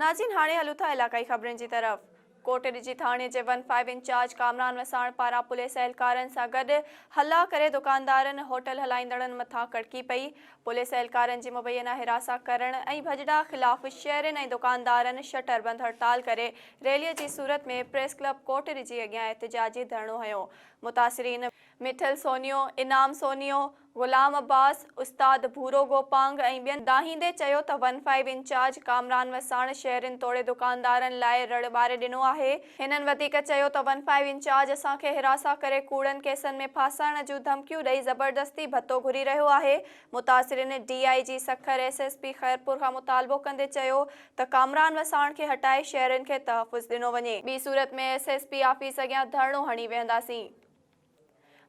ناظرين هاڻي هلون ٿا علاقائي خبرن جي طرف. ڪوٽ ڏجي ٿاڻي جي one five incharge Kamran Wassan پاران پوليس اهلڪارن سان گڏ هلا ڪري دڪاندارن، هوٽل هلائيندڙن مٿان ڪڙڪي پئي، پوليس اهلڪارن جي مبينا حراسان ڪرڻ ۽ ڀڄڙا خلاف شهرين ۽ دڪاندارن شٽر بند هڙتال ڪري ريلي جي صورت ۾ پريس ڪلب ڪوٽ ڏجي اڳيان احتجاجي ڌرڻو هنيو متاثرين مٺل سونيو، انعام سونيو، غلام عباس، استاد ڀورو گوپانگ ۽ ٻين دانهيندي چيو ته one five incharge Kamran Wassan شهرين توڙي دڪاندارن لاء رڙ ٻاري ڏنو آهي. هنن وڌيڪ چيو ته ون فائيو انچارج اسان کي حراسان ڪري ڪوڙن ڪيسن ۾ ڦاسائڻ جون ڌمڪيون ڏئي زبردستي ڀتو گهري رهيو آهي. متاثرين D I G Sukkur S S P Khairpur کان مطالبو ڪندي چيو ته ڪامران وساڻ کي هٽائي شهرين کي تحفظ ڏنو وڃي. ٻي صورت ۾ ايس ايس پي آفيس اڳيان ڌرڻو هڻي ويهنداسين.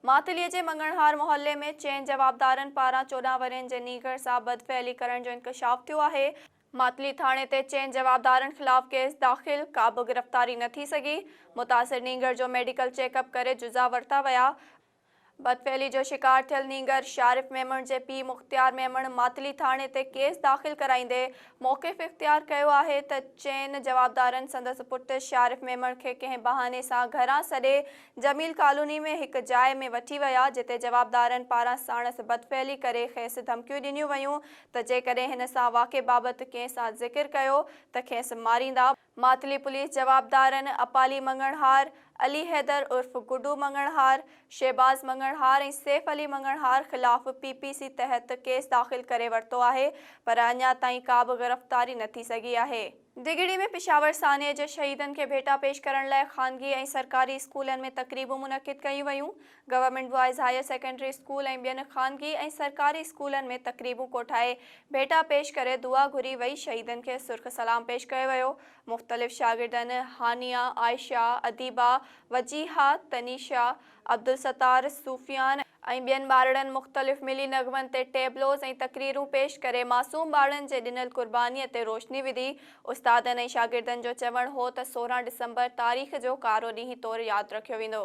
ماتليء جي مڱڻهار محلي ۾ چئن جوابدارن پاران چوڏهن ورهين جي نينگر سان بدفعلي ڪرڻ جو انڪشاف ٿيو آهي، ماتلي ٿاڻي تي چئن جوابدارن خلاف ڪيس داخل، ڪابه گرفتاري نه ٿي سگهي، متاثر نينگر جو ميڊيڪل چيڪ اپ ڪري جزا ورتا ويا، بدفعلي جو شڪار ٿيل نينگر شارف ميمڻ جي پيء مختيار ميمڻ ماتلي ٿاڻي تي ڪيس داخل ڪرائيندي موقف اختيار ڪيو آهي ته چئن جوابدارن سندس پٽ شارف ميمڻ کي ڪنهن بهاني سان گهران سڏي جميل ڪالوني ۾ هڪ جاء ۾ وٺي ويا، جتي جوابدارن پاران ساڻس بدفعلي ڪري کيس ڌمڪيون ڏنيون ويون ته جيڪڏهن هن سان واقعي بابت ڪنهن سان ذڪر ڪيو ته کيس ماريندا. ماتلي پوليس جوابدارن اپالي مڱڻهار، علي حيدر عرف گڊو مڱڻهار، شهباز مڱڻهار ۽ سيف علي مڱڻهار خلاف پي پي سي تحت ڪيس داخل ڪري ورتو آهي پر اڃا تائين ڪابه گرفتاري نه ٿي سگهي آهي. دگهڙي ۾ پشاور سانحي جي شهيدن کي ڀيٽا پيش ڪرڻ لاء خانگي ۽ سرڪاري اسڪولن ۾ تقريبون منعقد ڪيون ويون، government boys higher secondary school ۽ ٻين خانگي ۽ سرڪاري اسڪولن ۾ تقريبون ڪوٺائي ڀيٽا پيش ڪري دعا گهري وئي شهيدن کي سرخ سلام پيش ڪيو ويو مختلف شاگردن هانيا، عائشه، اديبه، وجيهه، تنيشه، عبدالستار، صوفيان ۽ ٻين ٻارڙن مختلف ملي نغمن تي ٽيبلوز ۽ تقريرون پيش ڪري معصوم ٻارڙن جي ڏنل قربانيء تي روشني وڌي. استادن ۽ شاگردن جو چوڻ هو ته سورهن ڊسمبر تاريخ جو ڪارو ڏينهن طور ياد رکيو ويندو.